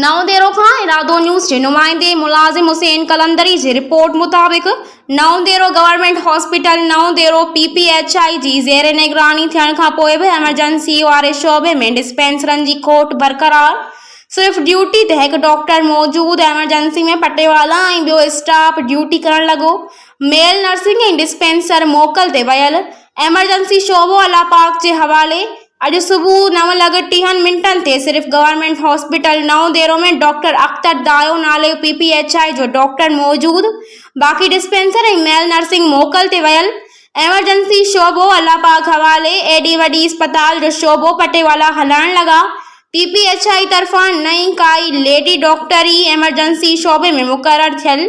نئون ديرو کان ارادو نيوز جي نمائندي ملازم حسين قلندري جي رپورٽ مطابق Naudero government hospital Naudero P P H I جي زير نگراني ٿيڻ کان پوء به ايمرجنسي واري شعبي ۾ ڊسپينسرن جي کوٽ برقرار صرف ڊيوٽي تي هڪ ڊاڪٽر موجود ايمرجنسي ۾ پٽيوالا ۽ ٻيو اسٽاف ڊيوٽي ڪرڻ لڳو ميل نرسنگ ۽ ڊسپينسر موڪل تي ويل ايمرجنسي شعبو الله پاڪ جي حوالي اڄ صبح نو لڳ ٽيهن منٽن تي صرف گورنمينٽ هاسپيٽل نئون ديرو ۾ ڊاڪٽر اختر دايو نالي جو پي پي ايڇ آء جو ڊاڪٽر موجود باقي ڊسپينسر ۽ ميل نرسنگ موڪل تي ويل ايمرجنسي شعبو الله پاڪ حوالي ايڏي وڏي اسپتال جو شعبو پٽيوالا هلائڻ لڳا پي پي ايڇ آء طرفان نه ئي ڪائي ليڊي ڊاڪٽر ئي ايمرجنسي شعبي ۾ مقرر ٿيل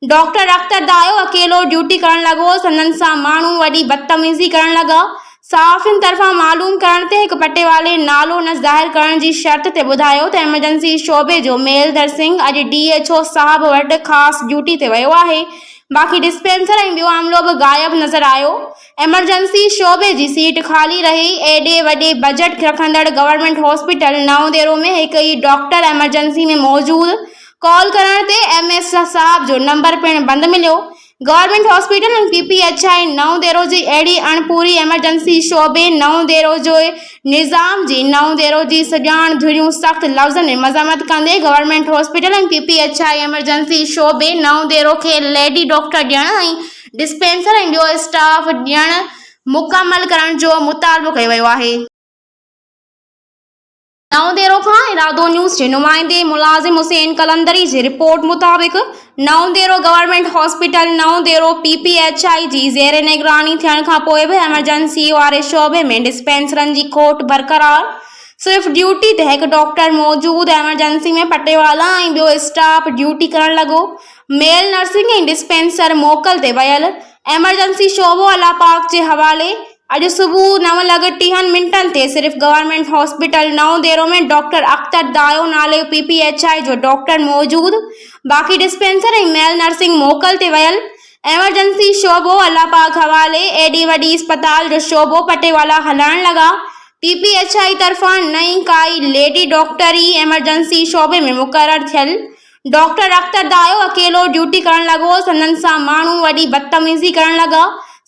ڊاڪٽر اختر دايو اڪيلو ڊيوٽي ڪرڻ لڳو. سندن سان ماڻهو وڏي بدتميزي ڪرڻ لڳا. صحافين طرفان معلوم ڪرڻ تي هڪ پٽيوالي نالو نه ظاهر ڪرڻ جي شرط تي ٻڌايو ته ايمرجنسي شعبي جو ميلڌر سنگهه اڄ ڊي ايڇ او صاحب وٽ خاص ڊيوٽي تي ويو آهي باقي ڊسپينسر ۽ ٻيو عملو به غائب نظر آيو. ايمرجنسي شعبي جي سيٽ خالي رهي. ايڏي وڏي بجٽ رکندڙ گورنمينٽ هاسپيٽل نئون ديرو ۾ هڪ ئي ڊاڪٽر ايمرجنسي ۾ موجود ڪال ڪرڻ تي ايم ايس صاحب جو نمبر پڻ بند مليو. Government hospital ۽ P P H I Naudero جي اهڙي اڻ پوري ايمرجنسي شعبي نئون ديرو جي نظام جي نئون ديرو جي سڄاڻ ڌريون سخت لفظن ۾ مذمت ڪندي government hospital ۽ P P H I emergency شعبي نئون ديرو کي ليڊي ڊاڪٽر ڏيڻ ۽ ڊسپينسر ۽ ٻيو اسٽاف ڏيڻ مڪمل ڪرڻ جو مطالبو ڪيو ويو آهي. نئون ديرو کان ارادو نيوز جي نمائندي ملازم حسين قلندري جي رپورٽ مطابق Naudero government hospital Naudero P P H I جي زير نگراني ٿيڻ کان پوء به ايمرجنسي واري شعبي ۾ ڊسپينسرن جي کوٽ برقرار صرف ڊيوٽي تي هڪ ڊاڪٽر موجود ايمرجنسي ۾ پٽيوالا ۽ ٻيو اسٽاف ڊيوٽي ڪرڻ لڳو ميل نرسنگ ۽ ڊسپينسر موڪل تي ويل ايمرجنسي شعبو الله پاڪ جي حوالي اڄ صبح نو لڳ ٽيهن منٽن تي صرف گورنمينٽ هاسپيٽل نئون ديرو ۾ ڊاڪٽر اختر دايو نالي پي پي ايڇ آء جو ڊاڪٽر موجود باقي ڊسپينسر ۽ ميل نرسنگ موڪل تي ويل ايمرجنسي شعبو الله پاڪ حوالي ايڏي وڏي اسپتال جو شعبو پٽيوالا هلائڻ لڳا پي پي ايڇ آء طرفان نه ئي ڪائي ليڊي ڊاڪٽر ئي ايمرجنسي شعبي ۾ مقرر ٿيل ڊاڪٽر اختر دايو اڪيلو ڊيوٽي ڪرڻ لڳو. سندن سان ماڻهو وڏي بدتميزي ڪرڻ لڳا.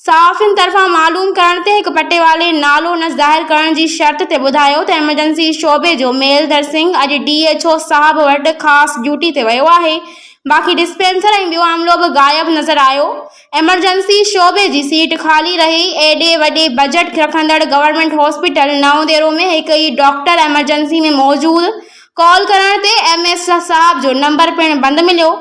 صحافين طرفان معلوم ڪرڻ تي هڪ پٽيوالي نالو نه ظاهر ڪرڻ جي شرط تي ٻڌايو ته ايمرجنسي شعبي جو ميلڌر سنگهه اڄ ڊي ايڇ او صاحب وٽ خاص ڊيوٽي تي ويو آهي باقي ڊسپينسر ۽ ٻيو عملو به غائب نظر آيو. ايمرجنسي شعبي جي سيٽ خالي رهي. ايڏي وڏي بجٽ رکندڙ گورنمينٽ هاسپيٽل نئون ديرو ۾ هڪ ئي ڊاڪٽر ايمرجنسي ۾ موجود ڪال ڪرڻ تي ايم ايس صاحب جو نمبر پڻ بند مليو.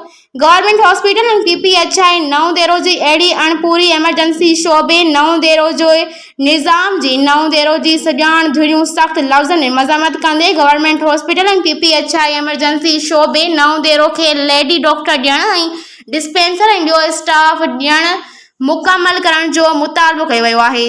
Government hospital ۽ P P H I Naudero جي اهڙي اڻ پوري ايمرجنسي شعبي نئون ديرو جي نظام جي نئون ديرو جي سڄاڻ ڌريون سخت لفظن ۾ مذمت ڪندي government hospital ۽ P P H I emergency شعبي نئون ديرو کي ليڊي ڊاڪٽر ڏيڻ ۽ ڊسپينسر ۽ ٻيو اسٽاف ڏيڻ مڪمل ڪرڻ جو مطالبو ڪيو ويو آهي.